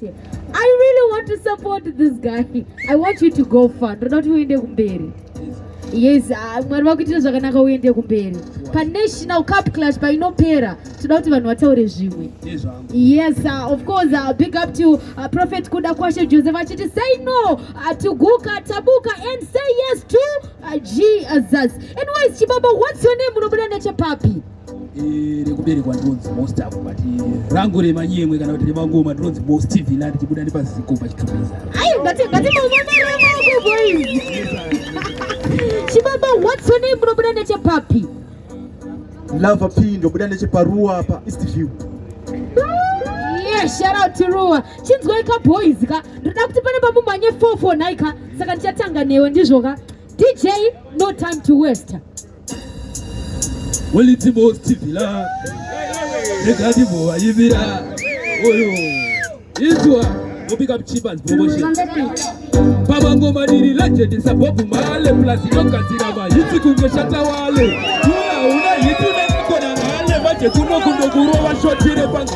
I really want to support this guy. I want you to go far. Ndoda kuti uende kumberi. Yes, ah, Mwari vakuitira zvakanaka uende kumberi. Pa National Cup Clash painopera toda kuti vanhu vataure zvimwe. Yes, uh, of course, uh, big up to uh, Prophet Kuda Kwashe Joseph achiti say no uh, to Guka Tabuka and say yes to uh, Jesus. Anyways, Chibaba, what's your name? Unobuda nechepapi? Eh, rekuberekwa ndinonzi most apo but eh, rangu remanyemwe kana kuti remangoma ndinonzi most tv la ndichibuda nepaziko pachitobeza chibaba what's your name unobuda nechepapi lava p ndobuda necheparuwa apa east view sharauti ruwa chinzwai ka boys ka ndoda kuti pane pamumhanye 4 4 nhai ka saka ndichatanga newe ndizvo ka dj no time to waste Weliti mosti vila Negati voa yivira Oyo Izwa Mopika mchipa zboboshe Pava ngoma niri legend Sabobu male Plasi yoka zirama Yitsi kunge shata wale Tula una yitu nekona nale Maje kuno kundo kurova shotire pangu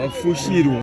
Wafushirwa.